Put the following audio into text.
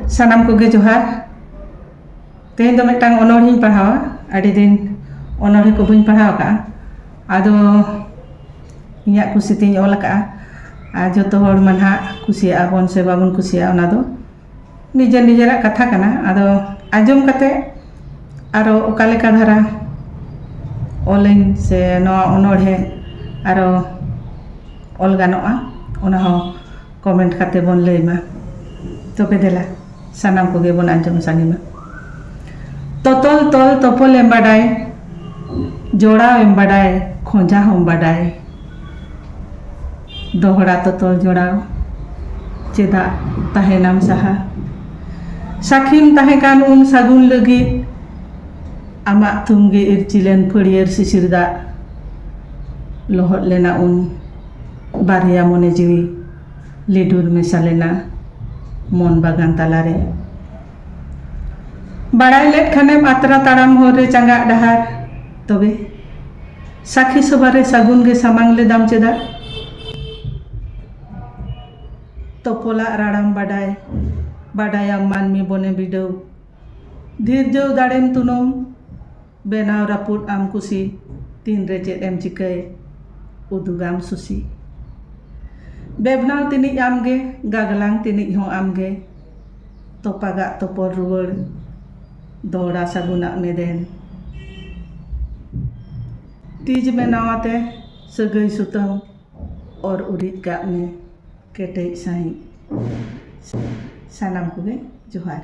ᱥᱟᱱᱟᱢ ᱠᱚᱜᱮ ᱡᱚᱦᱟᱨ ᱛᱮᱦᱮᱧ ᱫᱚ ᱢᱤᱫᱴᱟᱝ ᱚᱱᱚᱬᱦᱮᱧ ᱯᱟᱲᱦᱟᱣᱟ ᱟᱹᱰᱤ ᱫᱤᱱ ᱚᱱᱚᱬᱦᱮ ᱠᱚ ᱵᱟᱹᱧ ᱯᱟᱲᱦᱟᱣ ᱟᱠᱟᱫᱼᱟ ᱟᱫᱚ ᱤᱧᱟᱹᱜ ᱠᱩᱥᱤ ᱛᱤᱧ ᱚᱞ ᱟᱠᱟᱫᱼᱟ ᱟᱨ ᱡᱚᱛᱚ ᱦᱚᱲ ᱢᱟ ᱱᱟᱦᱟᱜ ᱠᱩᱥᱤᱭᱟᱜᱼᱟ ᱵᱚᱱ ᱥᱮ ᱵᱟᱵᱚᱱ ᱠᱩᱥᱤᱭᱟᱜᱼᱟ ᱚᱱᱟ ᱫᱚ ᱱᱤᱡᱮᱨ ᱱᱤᱡᱮᱨᱟᱜ ᱠᱟᱛᱷᱟ ᱠᱟᱱᱟ ᱟᱫᱚ ᱟᱸᱡᱚᱢ ᱠᱟᱛᱮ ᱟᱨᱚ ᱚᱠᱟ ᱞᱮᱠᱟ ᱫᱷᱟᱨᱟ ᱚᱞᱟᱹᱧ ᱥᱮ ᱱᱚᱣᱟ ᱚᱱᱚᱬᱦᱮ ᱟᱨᱚ ᱚᱞ ᱜᱟᱱᱚᱜᱼᱟ ᱚᱱᱟ ᱦᱚᱸ ᱠᱚᱢᱮᱱᱴ ᱠᱟᱛᱮ ᱵᱚᱱ ᱞᱟᱹᱭ ᱢᱟ ᱛᱚᱵᱮ ᱫᱮᱞᱟ ᱥᱟᱱᱟᱢ ᱠᱚᱜᱮ ᱵᱚᱱ ᱟᱸᱡᱚᱢ ᱥᱟᱸᱜᱮ ᱢᱟ ᱛᱚᱛᱚᱞ ᱛᱚᱞ ᱛᱚᱯᱚᱞ ᱮᱢ ᱵᱟᱰᱟᱭ ᱡᱚᱲᱟᱣ ᱮᱢ ᱵᱟᱰᱟᱭ ᱠᱷᱚᱸᱡᱟ ᱦᱚᱸᱢ ᱵᱟᱰᱟᱭ ᱫᱚᱦᱲᱟ ᱛᱚᱛᱚᱞ ᱡᱚᱲᱟᱣ ᱪᱮᱫᱟᱜ ᱛᱟᱦᱮᱱᱟᱢ ᱥᱟᱦᱟ ᱥᱟᱹᱠᱷᱤᱢ ᱛᱟᱦᱮᱸ ᱠᱟᱱ ᱩᱱ ᱥᱟᱹᱜᱩᱱ ᱞᱟᱹᱜᱤᱫ ᱟᱢᱟᱜ ᱛᱷᱩᱢ ᱜᱮ ᱤᱨᱪᱤᱞᱮᱱ ᱯᱷᱟᱹᱲᱭᱟᱹᱨ ᱥᱤᱥᱤᱨ ᱫᱟᱜ ᱞᱚᱦᱚᱫ ᱞᱮᱱᱟ ᱩᱱ ᱵᱟᱨᱭᱟ ᱢᱚᱱᱮ ᱡᱤᱣᱤ ᱞᱤᱰᱩᱨ ᱢᱮᱥᱟ ᱞᱮᱱᱟ ᱢᱚᱱ ᱵᱟᱜᱟᱱ ᱛᱟᱞᱟ ᱨᱮ᱾ ᱵᱟᱲᱟᱭ ᱞᱮᱫ ᱠᱷᱟᱱᱮᱢ ᱟᱛᱨᱟ ᱛᱟᱲᱟᱢ ᱦᱚᱨ ᱨᱮ ᱪᱟᱸᱜᱟᱜ ᱰᱟᱦᱟᱨ ᱛᱚᱵᱮ᱾ ᱥᱟᱹᱠᱷᱤ ᱥᱚᱵᱷᱟ ᱨᱮ ᱥᱟᱹᱜᱩᱱ ᱜᱮ ᱥᱟᱢᱟᱝ ᱞᱮᱫᱟᱢ ᱪᱮᱫᱟᱜ᱾ ᱛᱚᱯᱚᱞᱟᱜ ᱨᱟᱲᱟᱢ ᱵᱟᱰᱟᱭ ᱵᱟᱰᱟᱭᱟᱢ ᱢᱟᱹᱱᱢᱤ ᱵᱚᱱᱮ ᱵᱤᱰᱟᱹᱣ᱾ ᱫᱷᱤᱨᱡᱟᱹᱣ ᱫᱟᱲᱮᱢ ᱛᱩᱱᱩᱢ᱾ ᱵᱮᱱᱟᱣ ᱨᱟᱹᱯᱩᱫ ᱟᱢ ᱠᱩᱥᱤ ᱛᱤᱱ ᱨᱮ ᱪᱮᱫ ᱮᱢ ᱪᱤᱠᱟᱹᱭ ᱩᱫᱩᱜᱟᱢ ᱥᱩᱥᱤ ᱵᱮᱵᱽᱱᱟᱣ ᱛᱤᱱᱤᱡ ᱟᱢ ᱜᱮ ᱜᱟᱜᱽᱞᱟᱝ ᱛᱤᱱᱤᱡ ᱦᱚᱸ ᱟᱢ ᱜᱮ ᱛᱚᱯᱟᱜᱟᱜ ᱛᱚᱯᱚᱞ ᱨᱩᱣᱟᱹᱲ ᱫᱚᱦᱲᱟ ᱥᱟᱹᱜᱩᱱᱟᱜ ᱢᱮᱫᱮᱱ ᱛᱤᱡ ᱵᱮᱱᱟᱣ ᱟᱛᱮ ᱥᱟᱹᱜᱟᱹᱭ ᱥᱩᱛᱟᱹᱢ ᱚᱨ ᱩᱨᱤᱡ ᱠᱟᱜ ᱢᱮ ᱠᱮᱴᱮᱡ ᱥᱟᱺᱦᱤᱡ ᱥᱟᱱᱟᱢ ᱠᱚᱜᱮ ᱡᱚᱦᱟᱨ